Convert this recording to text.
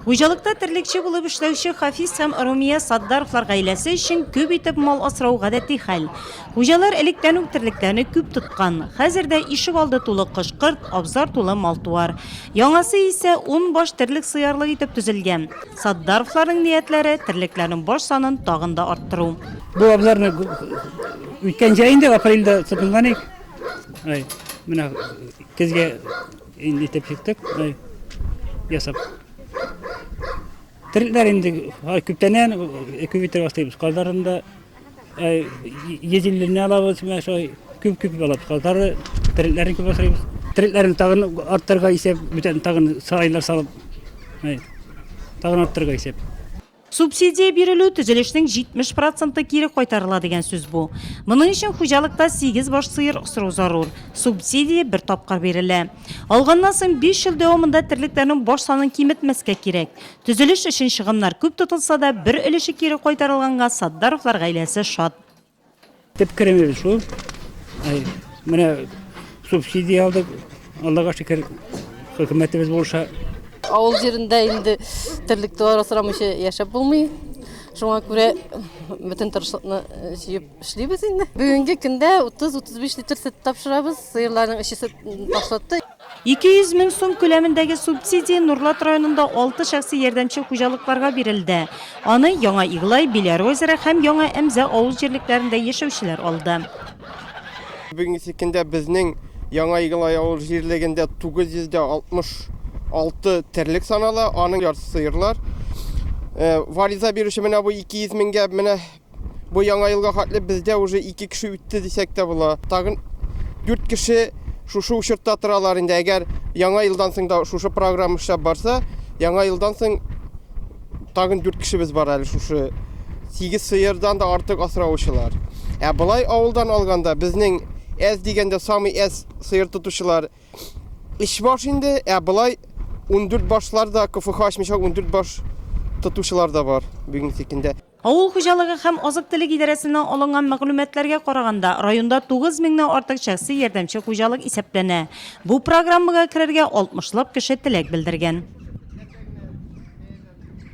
Хуҗалыкта терлекче булып эшләүче Хафиз һәм Румия Саддаровлар гаиләсе өчен күп итеп мал асрау гадәти хәл. Хуҗалар электән үк терлекләрне күп тоткан. Хәзер дә ишек алды тулы кош-корт, абзар тулы мал-туар. Яңасы исә ун баш терлек сыярлык итеп төзелгән. Саддаровларның ниятләре, терлекләрнең баш санын тагын да арттыру. Бу абзарны үткән җәй инде апрельдә тотынган идек. Менә көзгә Инде итеп чыктык, мынай ясап. Терлекләр инде күптәннән күп итеп аслыйбыз. Казларын да езелленә алабыз, менә шулай күп-күп алабыз. Казлары терлекләрен күп аслыйбыз. Терлекләрен тагын арттырырга исәп, бүтән тагын сарайлар салып, тагын арттырырга исәп. Субсидия бирелү, төзелешнең 70 проценты кире кайтарыла дигән сүз бу. Моның өчен хуҗалыкта сигез баш сыер асрау зарур. Субсидия бер тапкыр бирелә. Алганнан соң биш ел дәвамында терлекләрнең баш санын киметмәскә кирәк. Төзелеш өчен чыгымнар күп тотылса да, бер өлеше кире кайтарылганга Сатдаровлар гаиләсе шат. Төп керемебез шул. Менә субсидия алдык. Аллага шөкер, хөкүмәтебез булыша. Авыл җирендә инде терлек товар асрамыйча яшәп булмый. Шуңа күрә бөтен тырышлыкны җыеп эшлибез инде. Бүгенге көндә 30-35 литр сөт тапшырабыз. Сыерларның эчесе ташлытты. 200 мең сум күләмендәге субсидия Нурлат районында алты шәхси ярдәмче хуҗалыкларга бирелде. Аны Яңа Иглай, Биләр озере һәм Яңа Әмзә авыл җирлекләрендә яшәүчеләр алды. Бүгенге көндә безнең Яңа Иглай авыл җирлегендә 966 терлек санала, аның яртысы сыерлар. Вариза бирүче менә бу 200 меңгә менә Бу яңа елга хәтле бездә уже ике кеше үтте дисәк тә була. Тагын дүрт кеше шушы учетта торалар инде. Әгәр яңа елдан соң да шушы программа эшләп барса, яңа елдан соң тагын дүрт кешебез бар әле шушы сигез сыердан да артык асраучылар. Ә болай авылдан алганда безнең әз дигәндә самый әз сыер тотучылар өч баш инде, ә болай ундүрт башлар да КФХ ачмыйча ундүрт баш тотучылар да бар бүгенге көндә. Авыл хуҗалыгы һәм азык-төлек идарәсеннән алынган мәгълүматларга караганда, районда тугыз меңнән артык шәхси ярдәмче хуҗалык исәпләнә. Бу программага керергә алтмышлап кеше теләк белдергән.